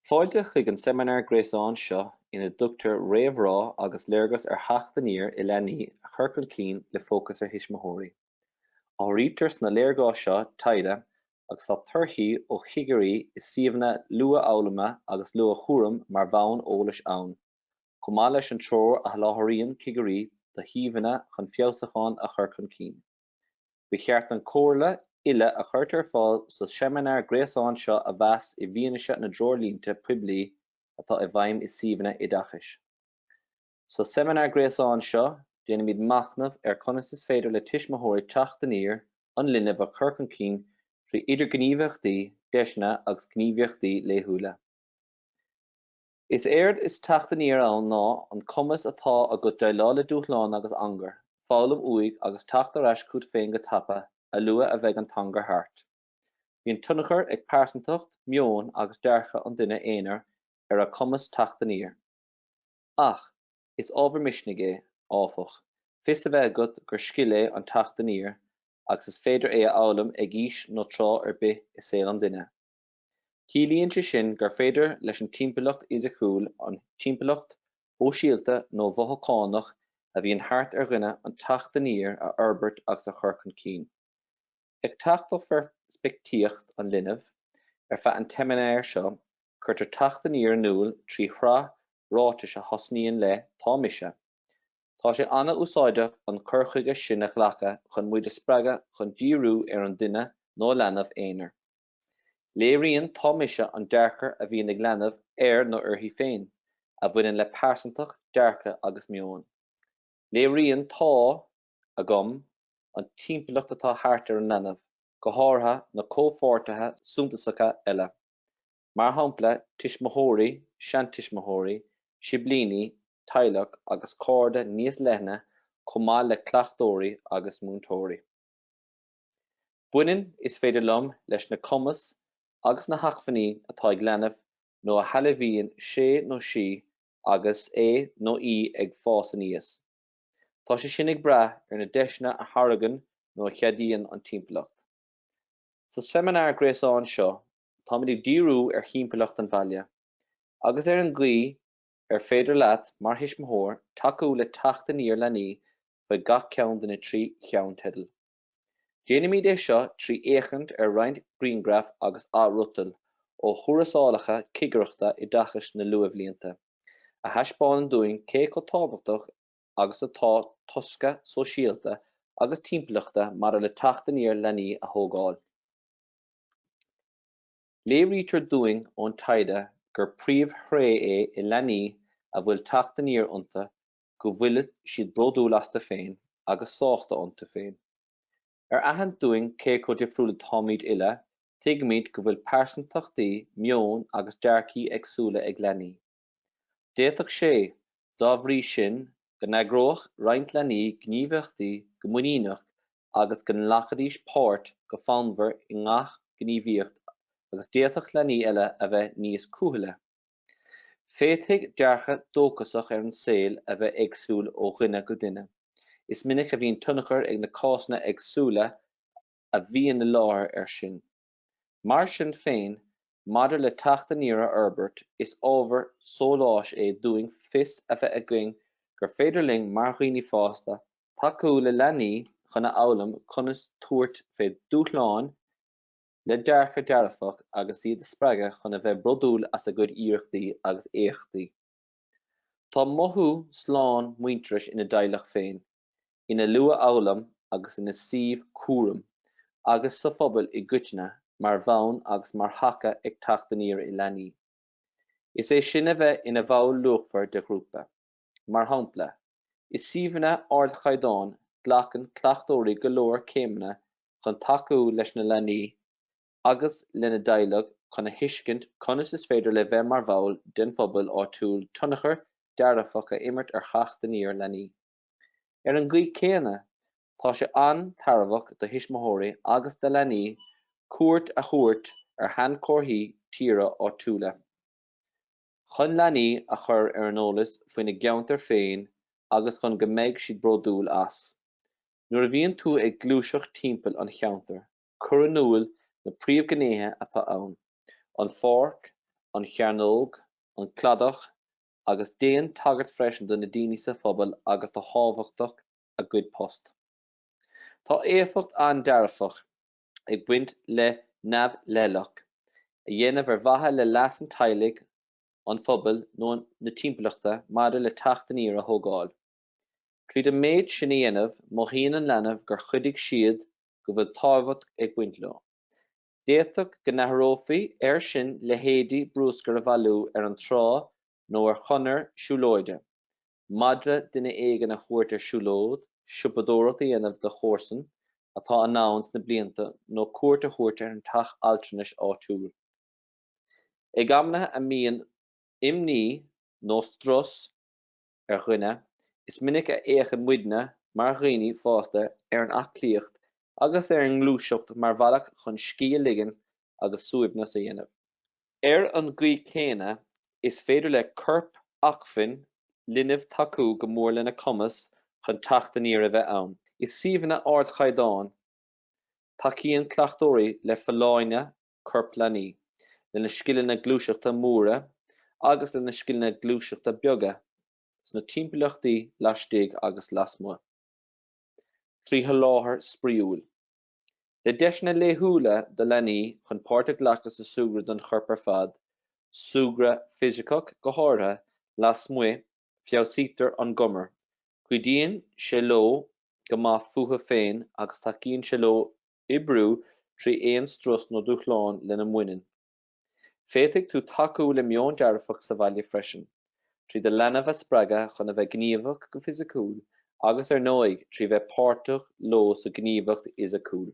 Fáilte chuig an seimineár gréasáin seo ina dtugtar réamhrá agus léargas ar theacht aniar i leanaí a chur chun cinn le fócas ar thuismitheoirí. Áirítear sna léargais seo taighde agus tá torthaí ó chigirí i suíomhanna luathfhoghlama agus luathchúraim mar bhonn eolais ann, chomh maith leis an treoir a sholáthraíonn cigirí do shuíomhanna chun feabhsúchán a chur chun cinn. Ba cheart an comhairle uile a chuirtear ar fáil sa seimineár gréasáin seo a mheas i bhfianaise na dtreoirlínte poiblí atá i bhfeidhm i suíomhanna oideachais. Sa seimineár gréasáin seo, déanfaimid machnamh ar conas is féidir le tuismitheoirí teacht aniar an linbh a chur chun cinn trí idirghníomhaíochtaí, deiseanna agus gníomhaíochtaí laethúla. Is éard is teacht aniar ann ná an cumas atá agat déileáil le dúshláin agus angar, foghlaim uaidh agus teacht ar ais chugat féin go tapa, a luaith a bheidh an t-angar thart. Bíonn tionchar ag pearsantacht, meon agus dearcadh an duine aonair ar a chumas teacht aniar. Ach is ábhar misnigh é, áfach, fios a bheith agat gur scil é an teacht aniar agus is féidir é a fhoghlaim ag aois nó tráth ar bith i saol an duine. Ciallaíonn sé sin gur féidir leis an timpeallacht fhisiciúil, an timpeallacht shóisialta nó mhothúchánach a bhíonn thart ar dhuine an teacht aniar a fhorbairt agus a chur chun cinn. Ag teacht ó pheirspictíocht an linbh, ar feadh an tseimineáir seo, cuirtear teacht aniar in iúl trí shraith ráiteas a thosnaíonn le 'Tá mise. Tá sé an-úsáideach an cur chuige sin a ghlacadh chun muid a spreagadh chun díriú ar an duine nó leanbh aonair. Léiríonn 'Tá mise' an dearcadh a bhíonn ag leanbh air nó uirthi féin, a bhaineann le pearsantacht, dearcadh agus meon. Léiríonn 'Tá. agam an timpeallacht atá thart ar an leanbh, go háirithe na comhpháirtithe suntasacha eile, mar shampla tuismitheoirí, seantuismitheoirí, siblíní, teaghlach agus cairde níos leithne chomh maith le cleachtóirí agus múinteoirí. Baineann, is féidir liom, leis na cumais agus na hacmhainní atá ag leanbh nó a shealbhaíonn sé nó sí agus é nó í ag fás aníos, Tá sé sin ag brath ar na deiseanna a thairgeann nó a cheadaíonn an timpeallacht. Sa seimineár gréasáin seo, táimid ag díriú ar thimpeallacht an bhaile, agus ar an gcaoi ar féidir leat mar thuismitheoir tacú le teacht aniar leanaí faoi gach ceann de na trí cheannteideal. Déanaimid é seo trí fhéachaint ar roinnt grianghraif agus athfhriotail ó thuarascálacha Cigireachta Oideachais na luathbhlianta, a thaispeánann dúinn cé chomh tábhachtach agus atá tosca sóisialta agus timpeallachta maidir le teacht aniar leanaí a thógáil. Léirítear dúinn ón taighde gur príomhthréith é i leanaí a bhfuil teacht aniar iontu go bhfuil siad bródúil astu féin agus sásta iontu féin. Ar aithint dúinn cé chomh difriúil atáimid uile, tuigimid go bhfuil pearsantachtaí, meoin agus dearcthaí éagsúla ag leanaí. D'fhéadfadh sé, dá bhrí sin, go n-eagródh roinnt leanaí gníomhaíochtaí go muiníneach agus go nglacfaidís páirt go fonnmhar i ngach gníomhaíocht agus d'fhéadfadh leanaí eile a bheith níos cúthaile. Féadfaidh dearcadh dóchasach ar an saol a bheith éagsúil ó dhuine go duine. Is minic a bhíonn tionchar ag na cásanna éagsúla a bhíonn i láthair air sin. Mar sin féin, maidir le teacht aniar a fhorbairt, is ábhar sóláis é dúinn fios a bheith againn gur féidir linn, mar dhaoine fásta, tacú le leanaí chun a fhoghlaim conas tabhairt fé dúshláin, le dearcadh dearfach agus iad a spreagadh chun a bheith bródúil as a gcuid iarrachtaí agus éachtaí. Tá mothú slán muintearais ina dteaghlach féin, ina luathfhoghlaim agus ina suíomh cúraim agus sa phobal i gcoitinne mar bhonn agus mar thaca ag teacht aniar i leanaí. Is é sin a bheith ina bhall luachmhar de ghrúpa. Mar shampla, i suíomhanna ardchaighdeáin glacann cleachtóirí go leor céimeanna chun tacú leis na leanaí agus lena dteaghlaigh chun a thuiscint conas is féidir le bheith mar bhall den phobal áitiúil tionchar dearfach a imirt ar theacht aniar leanaí. Ar an gcaoi chéanna, tá sé an-tairbheach do thuismitheoirí agus do leanaí cuairt a thabhairt ar shainchomharthaí tíre áitiúla. chun leanaí a chur ar an eolas faoina gceantar féin agus chun go mbeidh siad bródúil as. Nuair a bhíonn tú ag gluaiseacht timpeall an cheantair, cuir in iúl na príomhghnéithe atá ann, an pháirc, an chearnóg, an cladach, agus déan tagairt freisin do na daoine sa phobal agus do thábhachtach a gcuid post. Tá éifeacht an-dearfach. ag baint le neamhleithleach a dhéanamh ar mhaithe le leas an teaghlaigh, an phobail nó na timpeallachta maidir le teacht aniar a thógáil. Tríd an méid sin a dhéanamh, mothaíonn an leanbh gur chuidigh siad go bhfuil tábhacht ag baint leo. D'fhéadfadh go n-áireofaí air sin leithéidí bruscar a bhailiú ar an trá nó ar chonair siúlóide, madra duine éigin a thabhairt ar siúlóid, siopadóireacht a dhéanamh do chomharsa atá anonn sna blianta nó cuairt a thabhairt ar an teach altranais áitiúil. Ag amantaí a mbíonn imní nó strus ar dhuine, is minic a fhéachann muidne mar dhaoine fásta ar an aclaíocht agus ar an ngluaiseacht mar bhealach chun scíth a ligean agus suaimhneas a dhéanamh. Ar an gcaoi chéanna, is féidir le corpacmhainn linbh tacú go mór lena cumas chun teacht aniar a bheith ann. I suíomhanna ardchaighdeáin, tacaíonn cleachtóirí le folláine choirp leanaí, lena scileanna gluaiseachta móra agus lena scileanna gluaiseachta beaga sna timpeallachtaí laistigh agus lasmuigh, trí sholáthar spraíúil. Le deiseanna laethúla do leanaí chun páirt a ghlacadh sa súgradh don chorp ar fad, súgradh fisiceach go háirithe, lasmuigh, feabhsaítear a ngiúmar, cuidíonn sé leo mothú go maith fúthu féin agus tacaíonn sé leo oibriú trí aon strus nó dúshlán lena mbaineann. Féadfaidh tú tacú le meon dearfach sa bhaile freisin, trí do leanbh a spreagadh chun a bheith gníomhach go fisiciúil agus, ar ndóigh, trí bheith páirteach leo sa ngníomhaíocht fhisiciúil.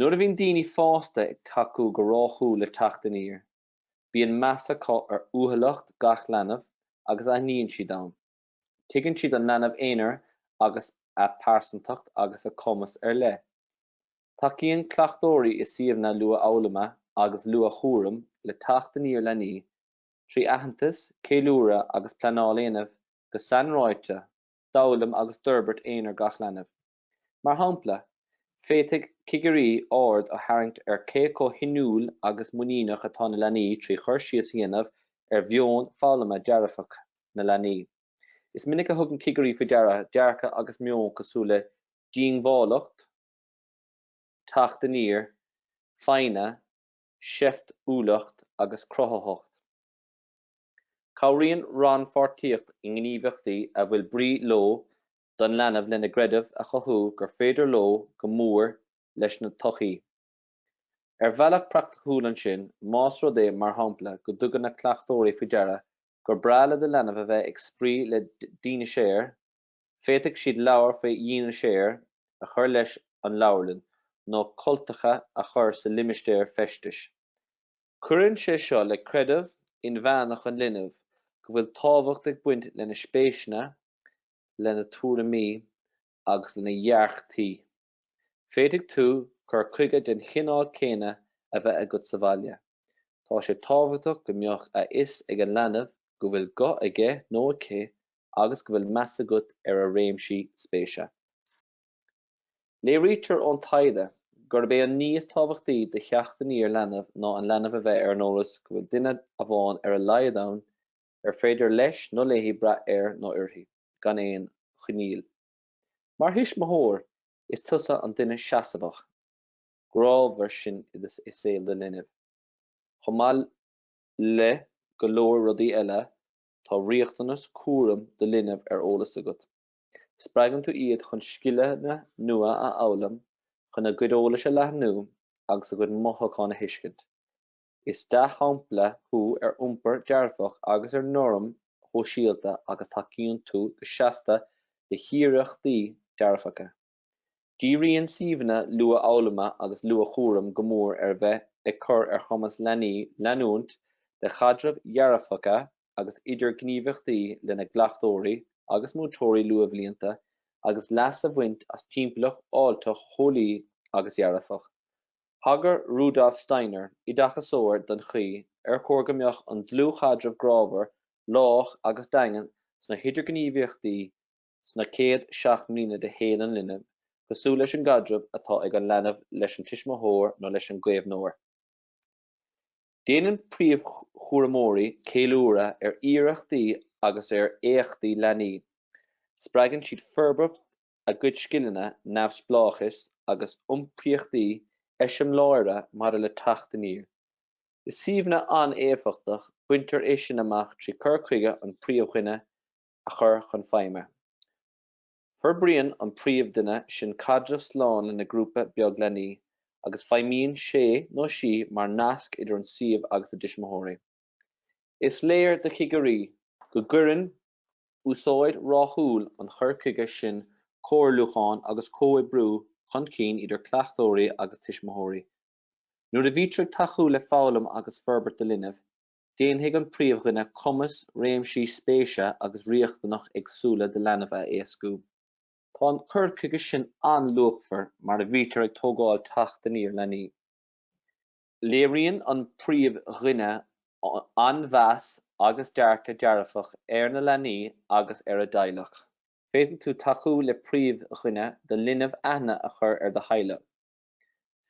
Nuair a bhíonn daoine fásta ag tacú go ráthúil le teacht aniar, bíonn meas acu ar uathúlacht gach leanbh agus aithníonn siad agus tuigeann siad an leanbh aonair agus a pearsantacht agus a cumas ar leith. Tacaíonn cleachtóirí i suíomhanna luathfhoghlama agus luathchúraim le teacht aniar leanaí trí aitheantas, ceiliúradh agus pleanáil a dhéanamh go sainráite d'fhoghlaim agus d'fhorbairt aonair gach leanbh. Mar shampla, féadfaidh cigirí aird a tharraingt ar cé chomh hinniúil agus muiníneach atá na leanaí trí chur síos a dhéanamh ar mheon foghlama dearfach na leanaí. Is minic a thugann cigirí faoi deara dearcadh agus meon cosúil le diongbháilteacht, teacht aniar, foighne, seiftiúlacht agus cruthaitheacht. Cabhraíonn rannpháirtíocht i ngníomhaíochtaí a bhfuil brí leo don leanbh lena gcreideamh a chothú gur féidir leo cur go mór lena dtodhchaí. Ar bhealach praiticiúil ansin, más rud é, mar shampla, go dtugann na cleachtóirí faoi deara gur breá le do leanbh a bheith ag spraoi le dineasáir Féadfaidh siad leabhair faoi dhineasáir a chur leis an leabharlann nó cultacha a chur sa limistéar feistis. Cuireann sé seo le creideamh inmheánach an linbh go bhfuil tábhacht ag baint lena spéiseanna, lena tuairimí agus lena dearcthaí. Féadfaidh tú cur chuige den chineál céanna a bheith agat sa bhaile. Tá sé tábhachtach go mbeadh a fhios ag an leanbh go bhfuil guth aige nó aici agus go bhfuil meas agat ar a réimsí spéise. Léirítear ón taighde gurb é an ní is tábhachtaí do theacht aniar leanbh ná an leanbh a bheith ar an eolas go bhfuil duine amháin ar a laghad ann ar féidir leis nó léi brath air nó uirthi gan aon choinníoll. Mar thuismitheoir, is tusa an duine seasmhach, grámhar sin i saol do linbh. Chomh maith le go leor rudaí eile, tá riachtanas cúraim do linbh ar eolas agat. Spreagann tú iad chun scileanna nua a fhoghlaim, chun a gcuid eolais a leathnú agus a gcuid mothúchán a thuiscint. Is dea-shampla thú ar iompar dearfach agus ar noirm shóisialta agus tacaíonn tú go seasta le hiarrachtaí dearfacha. Díríonn suíomhanna luathfhoghlama agus luathchúraim go mór ar bheith ag cur ar chumas leanaí leanúint de chaidrimh dhearfacha agus idirghníomhaíochtaí lena gcleachtóirí agus múinteoirí luathbhlianta agus leas a bhaint as timpeallacht fháilteach, theolaí agus dhearfach. Thagair Rudolf Steiner, oideachasóir, don chaoi ar chóir go mbeadh an dlúthchaidreamh grámhar, lách agus daingean sna hidirghníomhaíochtaí sna chéad seacht mbliana de shaol an linbh cosúil leis an gcaidreamh atá ag an leanbh leis an tuismitheoir nó leis an gcaomhnóir. Déanann príomhchúramóirí ceiliúradh ar iarrachtaí agus ar éachtaí leanaí. Spreagann siad forbairt a gcuid scileanna neamhspleáchais agus iompraíochtaí eiseamláire maidir le teacht aniar. I suíomhanna an-éifeachtach, baintear é sin amach trí chur chuige an príomhdhuine a chur chun feidhme. Forbraíonn an príomhdhuine sin caidreamh slán lena ghrúpa beag leanaí, agus feidhmíonn sé nó sí mar nasc idir an suíomh agus a dtuismitheoirí. Is léir do chigirí go gcuireann úsáid rathúil an chur chuige sin comhairliúchán agus comhoibriú chun cinn idir cleachtóirí agus tuismitheoirí. Nuair a bhítear ag tacú le foghlaim agus forbairt do linbh, déanfaidh an príomhdhuine cumas réimsí spéise agus riachtanach éagsúla do leanbh a éascú. Tá an cur chuige sin an-luachmhar mar a bhítear ag tógáil teacht aniar leanaí. Léiríonn an príomhdhuine an-mheas agus dearcadh dearfach ar na leanaí agus ar a dteaghlach. Féadfaidh tú tacú le príomhdhuine do linbh aithne a chur ar do theaghlach.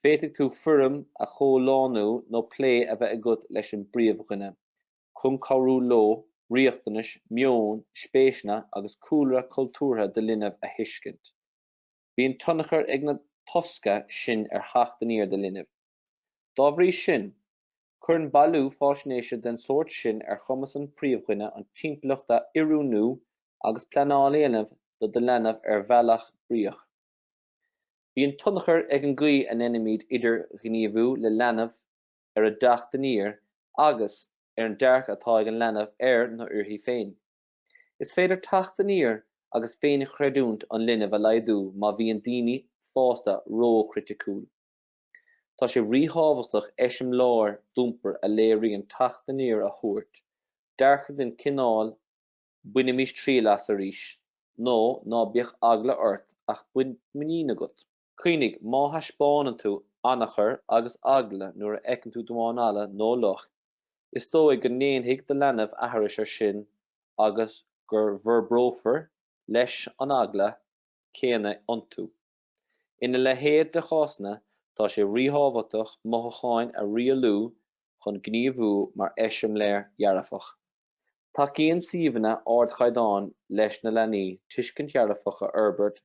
Féadfaidh tú foirm a chomhlánú nó plé a bheith agat leis an bpríomhdhuine chun cabhrú leo riachtanais, meon, spéiseanna agus cúlra cultúrtha do linbh a thuiscint. Bíonn tionchar ag na tosca sin ar theacht aniar do linbh. Dá bhrí sin, cuireann bailiú faisnéise den sórt sin ar chumas an phríomhdhuine an timpeallacht a oiriúnú agus pleanáil a dhéanamh do do leanbh ar bhealach bríoch. Bíonn tionchar ag an gcaoi a ndéanaimid idirghníomhú le leanbh ar a dteacht aniar agus ar an dearcadh atá ag an leanbh air nó uirthi féin. Is féidir teacht aniar agus féinchreidiúint an linbh a laghdú má bhíonn daoine fásta róchriticiúil. Tá sé ríthábhachtach eiseamláir d'iompar a léiríonn teacht aniar a thabhairt, dearcadh den chineál 'bainimís triail as arís' nó 'ná bíodh eagla ort ach bíodh muinín agat'. Cuimhnigh, má thaispeánann tú anacair agus eagla nuair a fheiceann tú damhán alla nó luch, is dóigh go ndéanfaidh do leanbh aithris air sin agus go bhforbrófar, leis, an eagla céanna iontu. Ina leithéid de chásanna, tá sé ríthábhachtach mothúcháin a rialú chun gníomhú mar eiseamláir dhearfach. Tacaíonn suíomhanna ardchaighdeáin leis na leanaí tuiscint dhearfach a fhorbairt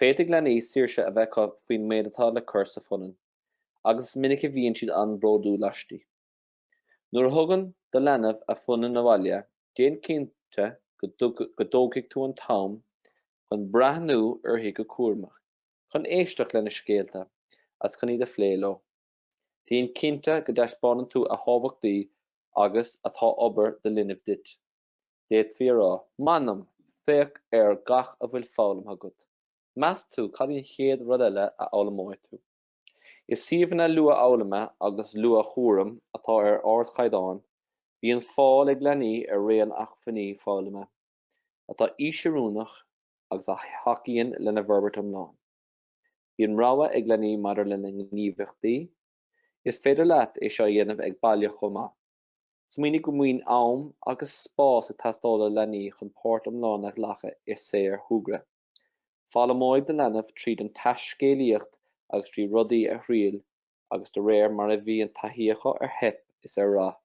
Féadfaidh leanaí saoirse a bheith acu faoin méid atá le cur sa phunann, agus is minic a bhíonn siad an-bhródúil aisti. Nuair a thugann do leanbh a phunann abhaile, déan cinnte go dtógfaidh tú an t-am chun breathnú uirthi go cúramach, chun éisteacht lena scéalta, agus chun iad a phlé leo. Déan cinnte go dtaispeánann tú a thábhachtaí agus atá obair do linbh duit. D'fhéadfaí a rá. M'anam, féach ar gach a bhfuil foghlamtha agat. Meas tú cad í an chéad rud eile a fhoghlaimeoidh tú? I suíomhanna luathfhoghlama agus luathchúraim atá ar ardchaighdeán, bíonn fáil ag leanaí ar raon acmhainní foghlama atá aoisoiriúnach agus a thacaíonn lena bhforbairt iomlán. Bíonn rogha ag leanaí maidir lena ngníomhaíochtaí. Is féidir leat é seo a dhéanamh ag baile chomh maith. Smaoinigh go mbíonn am agus spás ag teastáil ó leanaí chun páirt iomlán a ghlacadh i saorshúgradh. Foghlaimeoidh do leanbh tríd an taiscéalaíocht agus trí rudaí a thriail agus de réir mar a bhíonn taithí acu ar theip is ar rath,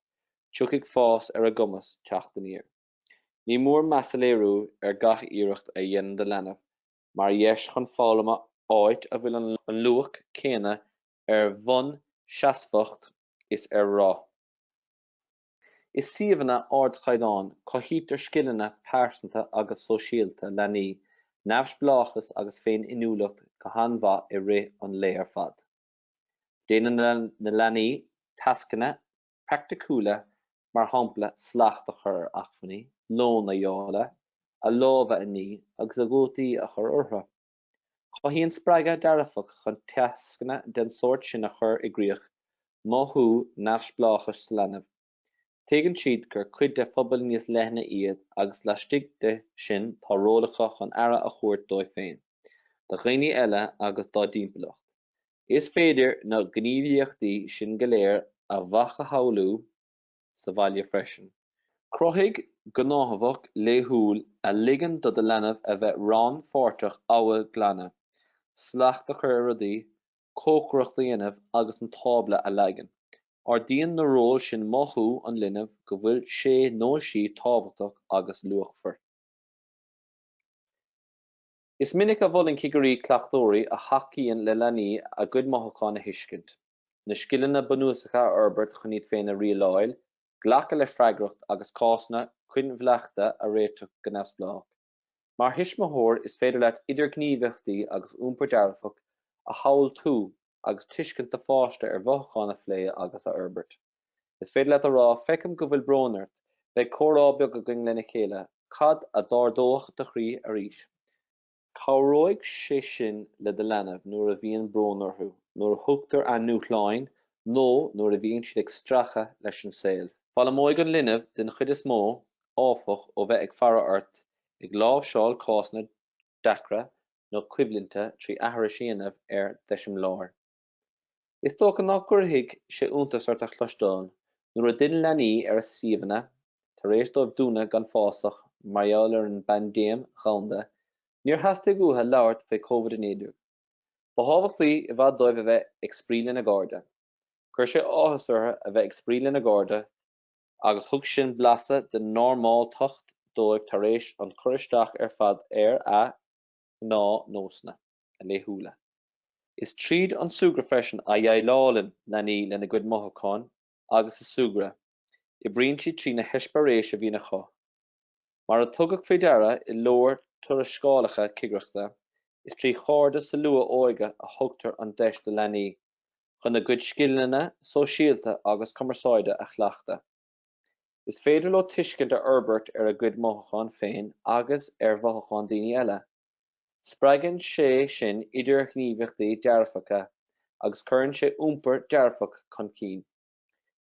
tiocfaidh fás ar a gcumas teacht aniar. Ní mór meas a léiriú ar gach iarracht a dhéanann do leanbh mar dheis chun foghlama áit a bhfuil an luach céanna ar bhonn seasmhach. is ar rath. I suíomhanna ardchaighdeáin, cothaítear scileanna pearsanta agus sóisialta leanaí, neamhspleáchas agus féin-inniúlacht go han-mhaith i rith an lae ar fad. Déanann na leanaí tascanna praiticiúla mar shampla slacht a chur ar acmhainní, lón a dháileadh, a lámha a ní agus a gcótaí a chur orthu. Cothaíonn spreagadh dearfach chun tascanna den sórt sin a chur i gcrích mothú neamhspleáchais sa leanbh. Tuigeann siad gur cuid de phobal níos leithne iad agus laistigh de sin tá ról acu chun aire a thabhairt dóibh féin, do dhaoine eile agus dá dtimpeallacht. Is féidir na gníomhaíochtaí sin go léir a mhacasamhlú, sa bhaile freisin. Cruthaigh gnáthamh laethúil a ligeann do do leanbh a bheith rannpháirteach amhail glanadh, slacht a chur ar rudaí, cócaireacht a dhéanamh agus an tábla a leagan. Ardaíonn na róil sin mothú an linbh go bhfuil sé nó sí tábhachtach agus luachmhar. Is minic a mholann cigirí cleachtóirí a thacaíonn le leanaí a gcuid mothúchán a thuiscint, na scileanna bunúsacha a fhorbairt chun iad féin a rialáil, glacadh le freagracht agus cásanna coinbhleachta a réiteach go neamhspleách. Mar thuismitheoir, is féidir leat idirghníomhaíochtaí agus iompar dearfach a shamhaltú agus tuiscint do pháiste ar mhothúcháin a phlé agus a fhorbairt. Is féidir leat a rá, Feicim go bhfuil brón ort, beidh comhrá beag againn le chéile, cad a d'ardódh do chroí arís? Cabhróidh sé sin le do leanbh nuair a bhíonn brón orthu, nuair a thugtar a ndúshlán nó nuair a bhíonn siad ag stracadh leis an saol. Foghlaimeoidh an leanbh den chuid is mó, áfach, ó bheith ag faire ort ag láimhseáil cásanna deacra nó coimhlinte trí aithris a dhéanamh ar d'eiseamláir. Is dócha nach gcuirfidh sé iontas ort a chloisteáil nuair a d'fhill leanaí ar a suíomhanna tar éis dóibh dúnadh gan fasach mar gheall ar an bpaindéim dhomhanda, níor theastaigh uathu labhairt faoi Covid-19. Ba thábhachtaí i bhfad dóibh a bheith ag spraoi lena gcairde. Chuir sé áthas orthu a bheith ag spraoi lena gcairde agus thug sin blaiseadh den normáltacht dóibh tar éis an cur isteach ar fad ar a ngnáthnósanna. a laethúla. Is tríd an súgradh freisin a dhéileálann leanaí lena gcuid mothúchán agus sa súgradh oibríonn siad trí na heispéiréis a bhíonn acu. Mar a tugadh faoi deara i leor tuarascálacha cigireachta, is trí chairde sa luath-óige a thugtar an deis do leanaí chun a gcuid scileanna sóisialta agus cumarsáide a chleachtadh. Is féidir leo tuiscint a fhorbairt ar a gcuid mothúchán féin agus ar mhothúcháin daoine eile. Spreagann sé sin idirghníomhaíochtaí dearfacha agus cuireann sé iompar dearfach chun cinn.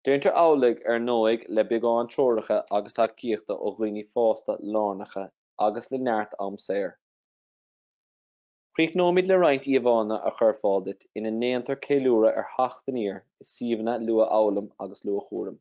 Déantar amhlaidh, ar ndóigh, le beagán treoracha agus tacaíochta ó dhaoine fásta lárnacha agus le neart am saor. Críochnóimid le roinnt íomhánna a chur ar fáil duit ina ndéantar ceiliúradh ar theacht aniar i suíomhanna luathfhoghlama agus luathchúraim.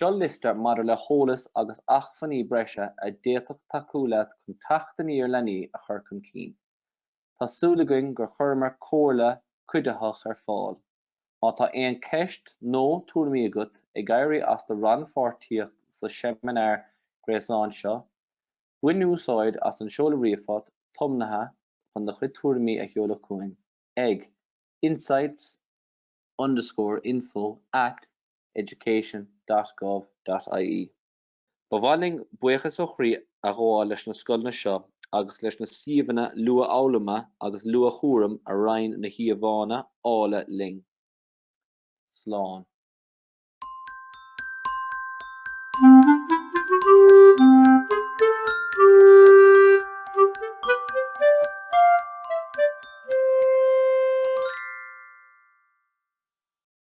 Seo liosta maidir le heolas agus acmhainní breise a d'fhéadfadh tacú leat chun teacht aniar leanaí a chur chun cinn. tá súil againn gur chuireamar comhairle cuiditheach ar fáil. Má tá aon ceist nó tuairimí agat ag éirí as do rannpháirtíocht sa seimineár gréasáin seo, bain úsáid as an seoladh ríomhphost tiomnaithe chun do chuid tuairimí a sheoladh chugainn ag insights underscore info at education dot gov dot ie. Ba mhaith linn buíochas ó chroí a ghabháil leis na scoileanna seo agus leis na suíomhanna luathfhoghlama agus luathchúraim a roinn na híomhánna áille linn. Slán.